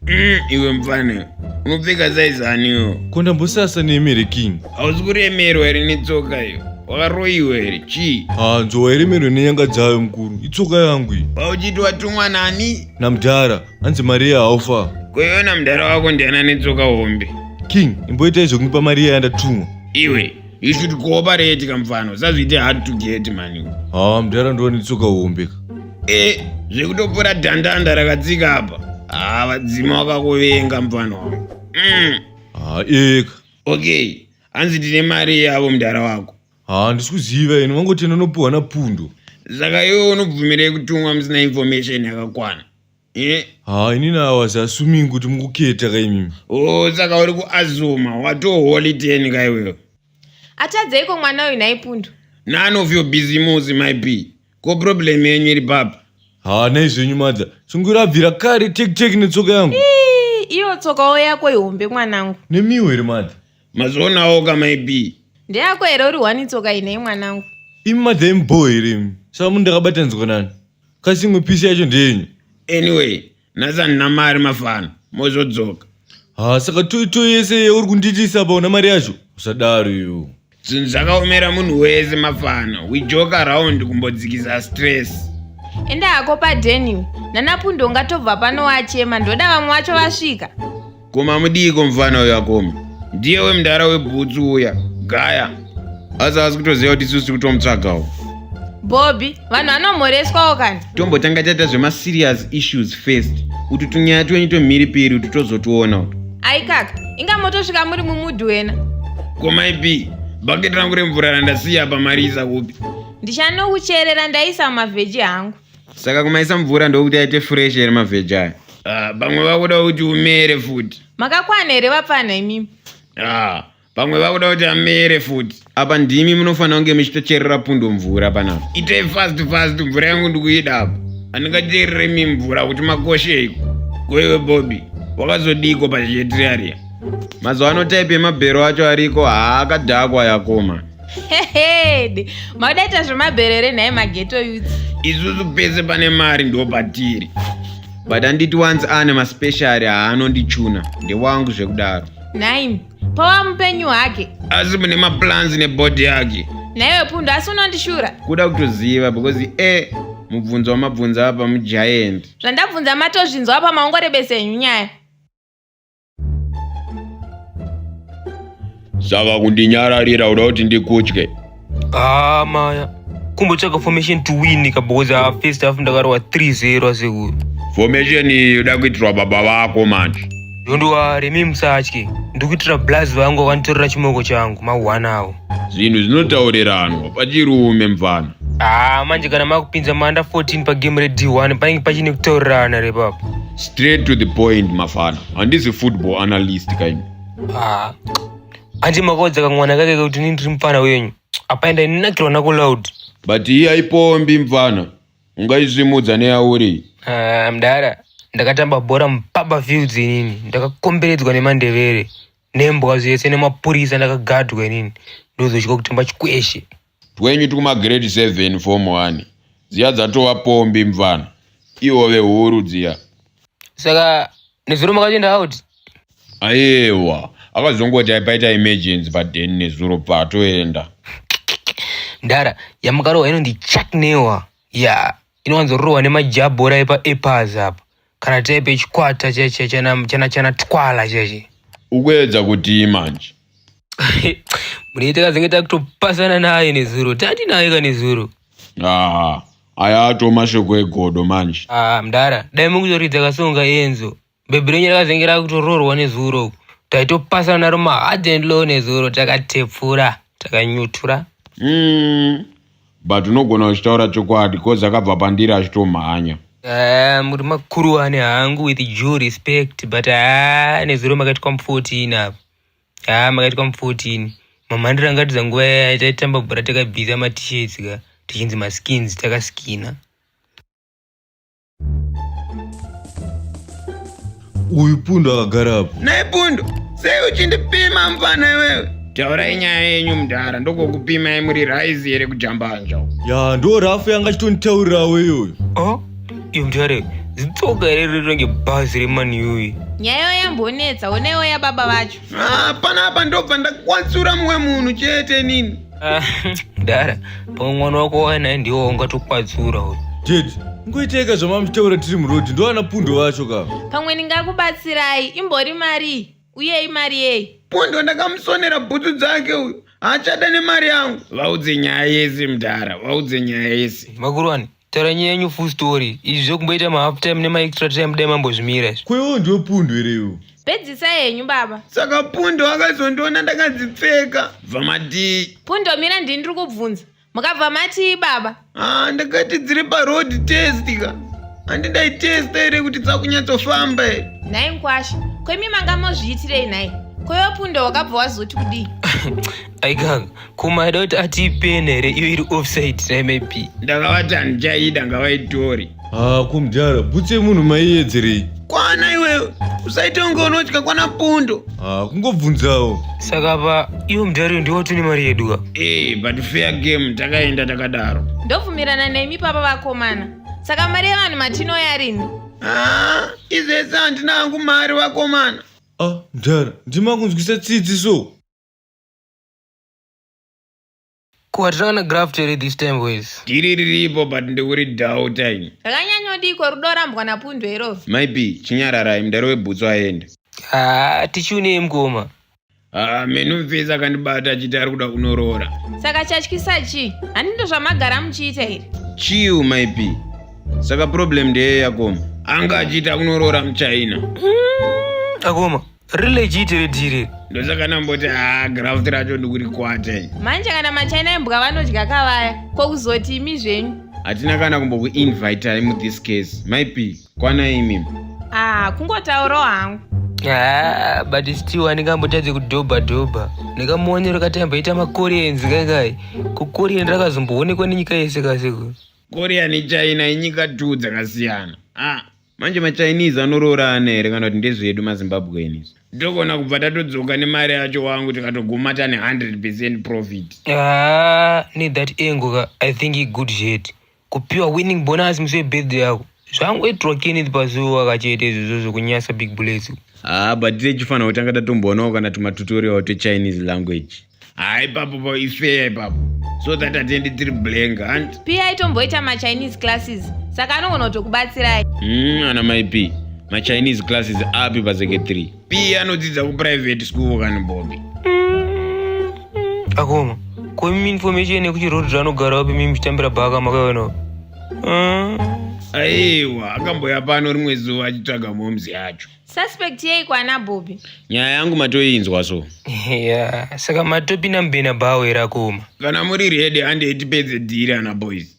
Mm, iwe mfana unopfeka saizaniwo kondambosasa neemere king hausi kuremerwa here netsoka iyo wakaroyiwa here chii hanzo wairemerwa nenyanga dzayo mukuru itsoka yangu iyi pauchiti watumwa nani namdhara hanzi mariya haufa koiona mudhara wako ndiani anetsoka hombe king imboita izvo kundipa mariya yandatumwa iwe you should cooperate kamfano sazviite hard to get mani haa mudhara ndova netsoka hombe ka e zvekutopora dhandanda rakatsika apa haa vadzima wakakuvenga mfano wangu mm. haa eka okay hanzi tine mari yavo mudhara wako haa ndisi kuziva ini wangoti anonopiwa napundo saka iwe unobvumirei kutumwa musina information yakakwana Eh, haa ini nawazi asuming kuti mukuketa kaimimi oh saka uri kuazuma watoholi teni ka iwewe Atadzeiko mwana uyu nhai Pundu? none of your business my b ko problem yenyu iri papa haa nai zvenyu madza sungura abvira kare tekiteki netsoka yangu Ii, Iyo tsokawo yako ihombe mwanangu. nemiwo here madza mazvionawo ka myb ndeyako here uri one tsoka inei mwanangu imi madza imubhoo here imi saka munhu ndakabatanidzwa nani kasi imwe pisi yacho ndeyenyu anyway nhasi handina mari mafana mozodzoka ha saka toito yese yeuri kundiitisa apa una mari yacho usadaro iwo zvinhu zvakaomera munhu wese mafana we joke around kumbodzikisa stress enda hako padeniwe nanapundo ungatobva pano wachema ndoda vamwe vacho vasvika koma mudiiko mufana uyo akoma ndiye wemudhara webhutsu uya gaya asi asi kutoziva kuti isusu tiri kutomutsvagawo bobby vanhu vanomhoreswawo kani tombotanga taita zvemaserious issues first kuti tunyaya twenyu tomhiripiri kuti tozotiona uto aikaka inga motosvika muri mumudhu wena komaipi bhaketi rangu remvura randasiya pamarisa kupi ndichanokucherera ndaisa mumavheji hangu saka kumaisa mvura ndokuti aite fresh here mavheji aya ah, pamwe uh, vakuda kuti umere futi makakwana here vapfanha imimi ah, pamwe vakuda kuti amere futi apa ndimi munofanira kunge muchitocherera pundo mvura panapa itei fast fast mvura yangu ndikuida apa handingacherere mi mvura kuti makosheiko koiwe bobi wakazodiko pazhietiriaria mazuva ano type emabhero acho ariko haakadhakwa yakoma hehede maudaita zvemaberere nhai mageto youth isusu pese pane mari ndo patiri but anditi once ane maspeciary haanondichuna ndewangu zvekudaro nhaimi pawa mupenyu hake asi mune maplans nebody yake nhaiwe pundu asi unondishura kuda kutoziva because e mubvunzo wamabvunza apa mugiant zvandabvunza matozvinzwa apa maongorebesa henyu nyaya saka kundinyararira uda kuti ndikutye Ah, maya. Kumbotsvaga formation to win ka because ah, first half ndakarwa 3-0 asekuru. formation iyi uda kuitirwa baba vako manje Ndondoware mi musatye. Ndikuitira blaz vangu vakanditorera chimoko changu mawana awo. zvinhu zvinotaurirana pachirume mfana Ah, manje kana makupinza manda 14 pa game re D1 panenge pachine kutaurirana repapo. straight to the point mafana handisi football analyst kaini Ah, hanzi makaudza kamwana kake kuti ini ndiri mupfana wenyu apa enda inakirwa nako loud but iyi haipombi mfana ungaisvimudza neyauri Ah, mdara ndakatamba bhora mupapa fields inini ndakakomberedzwa nemandevere nembwa zvese nemapurisa ndakagadwa inini ndozosvika kuti mbachikweshe twenyu tikumagrade 7 form 1 dziya dzatova pombi mvana ihove huru dziya saka nezuro makatoenda out ayewa akazongoti aipaita emergency paden nezuro patoenda ndara yamukarohwa inondichaknewa ya yeah. inowanzororwa nemajabhora epaepaz apa kana type yechikwata chana twala cheche ukuedza kutii manje mune takazenge takutopasana naye nezuro tati naye ka nezuro haa aya ato mashoko egodo manje haa mdara dai mukutoridza kasonga enzo bhebhi renyu rakazenge rakutoroorwa nezuro uku taitopasana naro mahard and low nezuro takatepfura takanyutura mm. but unogona uchitaura chokwadi coz akabva pandiri achitomhanya ah, muri makuruwane hangu with due respect but haa ah, nezuro makaitwa mu14 apo haa ah, makaitwa mu14 mamhandira angatidza nguva yaya taitamba bhora takabvisa matishets ka tichinzi maskins takaskina uyu pundu akagara apo naye pundu sei uchindipima mfana iwewe taurai nyaya yenyu mudhara ndokokupimai muri raizi here kujambanja ya ndo rafu yanga achitonditaurirawo iyoyo oh iyo mdare zitsoka here riri range bhazi remaniyuyi nyayo yambonetsa onaiwo yababa vacho Ah, panapa ndobva ndakwatsura mumwe munhu chete nini Ah, mdara pamwe mwana wako wanaye ndiwo ungatokwatsura uyu ded ngoiteka zvamamuchitaura tiri muroad ndoana pundo vacho ka pamwe ndingakubatsirai imbori marii uye imari yei pundo ndakamusonera bhutsu dzake uyu haachada nemari yangu vaudze nyaya yese mdara vaudze nyaya yese makurwani Tara nyaya yenyu full story. Izvi zvekumboita ma half time nema extra time dai mambozvimira izvi. Ko iwo ndiwo pundu here iwo? Pedzisa henyu baba. Saka Pundo akazondiona ndakadzipfeka. Bva matii. Pundo mira ndini ndiri kubvunza. Mukabva matii baba? Ah, ndakati dziri pa road test ka. Handi ndaitesta here kuti dzakunyatsofamba here? Nhai mkwasha, ko imi manga mozviitirei nhai? Ko iwe Pundo wakabva wazoti kudii? Aikaka, kumadot ati ipeni here iyo iri offside dai maybe ndakavati handichaida ngavaitori haa kumdara bhutsu yemunhu maiyedzerei kwana iwewe usaita kunge unotya kwana pundo haa kungobvunzawo saka pa iyo mudhariyo ndiwo tine mari yedu ka ee but fair game takaenda takadaro ndobvumirana nemi papa vakomana saka mari yevanhu matinoya rini haa izvese handina hangu mari vakomana ah mdara ndima kunzwisa tsitsi so Ko hatichava na graft here this time boys? Dhiri riripo but ndikuri doubta ini. Zvakanyanyodiko rudo rambwa na Pundwe iroro. Mai P, chinyararai mdara webhutsu aende. Haa tichiunei mkoma? Haa menu mfesi akandibata achiti ari kuda kunoroora. Saka chatyisa chii? Handi ndozvamagara muchiita here? Chiu mai P. Saka problem ndeyei akoma? Anga achiita kunoroora muchina. Akoma. rilegit redhiri ndosaka namboti haa graft racho ndikurikwate manje kana machina embwa vanodya kavaya ko kuzoti imi zvenyu hatina kana kumbokuinvitai muthis case maipi kwana imi ah kungotaurawo hangu haa but still andingambotadze kudhobha dhobha ndikamuonero kati amboita makorians kangai kukorian rakazomboonekwa nenyika yese kasiko korian china inyika two dzakasiyana ah manje machinese anoroora ana here kana kuti ndezvedu mazimbabweni togona kubva tatodzoka nemari yacho wangu tikatoguma tane 100 percent profit ah, ne that angle ka i think i good shet kupiwa winning bonus musi webirthday yako zvangoitirwa kenneth pazuva kachete izvozvo zvekunyasa big bullets haa ah, but tichifanira kutanga tatomboonawo kana tumatutorial twechinese language Hai papo pa ifeya ipapo. So that atende tiri blank hanti. Pia aitomboita ma Chinese classes. Saka anogona kutokubatsirai. Mm, ana mai P. Ma Chinese classes api pa secretary. P anodzidza ku private school kana Bobby. Mm, mm. Akoma. Ko imi information yekuti road zvanogara wapi mimi chitambira bhaka makaiona. Mm. Aiwa, akamboya pano rimwe zuva achitsvaga momzi yacho. Suspect yei kwana Bobby? Nyaya yangu matoinzwa so. Yeah, saka matopi na mbena bawo era koma. Kana muri ready ande itipedze dhiri ana boys.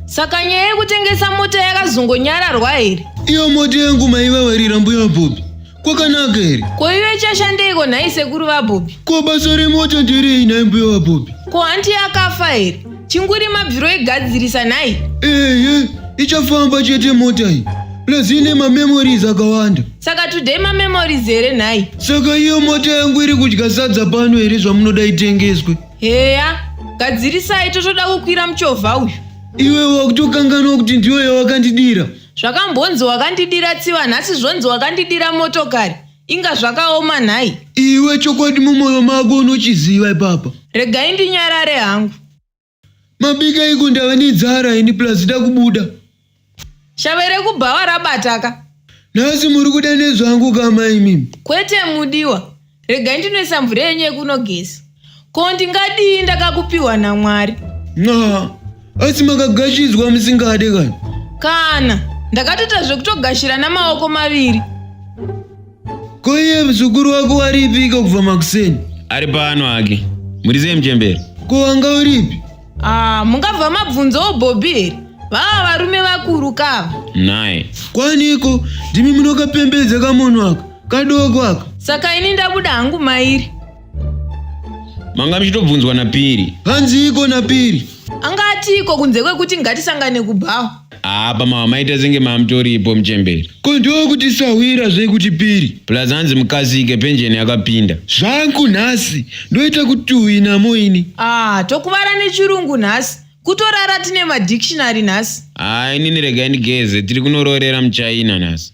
Saka nyaya yekutengesa mota yakazongonyararwa here? Iyo mota yangu maiva varira mbuya Bobby. kwakanaka here ko iwe chashandeiko nhai sekuru vabhobhi ko basa remota nderei nhai mbuya vabhobhi ko hanti yakafa here chinguri mabviro egadzirisa nhai ehe ichafamba chete mota iyi plus ine mamemories akawanda saka today mamemories here nhai saka iyo mota yangu iri kudya sadza pano here zvamunoda itengeswe heya gadzirisai totoda kukwira muchovha uyu iwe wakutokanganwa kuti ndiyo yawakandidira Zvakambonzi wakandidira tsiva nhasi zvonzi wakandidira motokari. Inga zvakaoma nhai. Iwe chokwadi mumoyo mako unochiziva ipapa. Regai ndinyarare hangu. Mabika iko ndava nenzara ini plus da kubuda. Shave rekubhawa rabataka. Nhasi muri kuda nezvangu kama imimi. Kwete mudiwa. regai ndinoisa mvura yenyu yekunogeza ko ndingadii ndakakupiwa namwari na asi makagashidzwa musingade kana kana ndakatoita zvekutogashira namaoko maviri ko iye mzukuru wako waripika kubva makuseni ari pano hake muri sei muchembere ko wanga uripi Ah, mungabva mabvunzawo bhobhi here vava varume vakuru kava Nai. kwaniko ndimi munokapembedza kamunhu aka kadoko aka saka ini ndabuda hangu mairi Manga muchitobvunzwa napiri. hanziiko napiri anga atiiko kunze kwekuti ngatisangane kubhawa apa mama maita senge mamutoripo muchemberi ko ndokutisahwira zvekuti piri plus hanzi mukasike penjeni yakapinda zvangu nhasi ndoita kuti uyi namo ini ah tokuvara nechirungu nhasi kutorara tine madictionary nhasi ah inini regai ndigeze tiri kunoroorera muchaina nhasi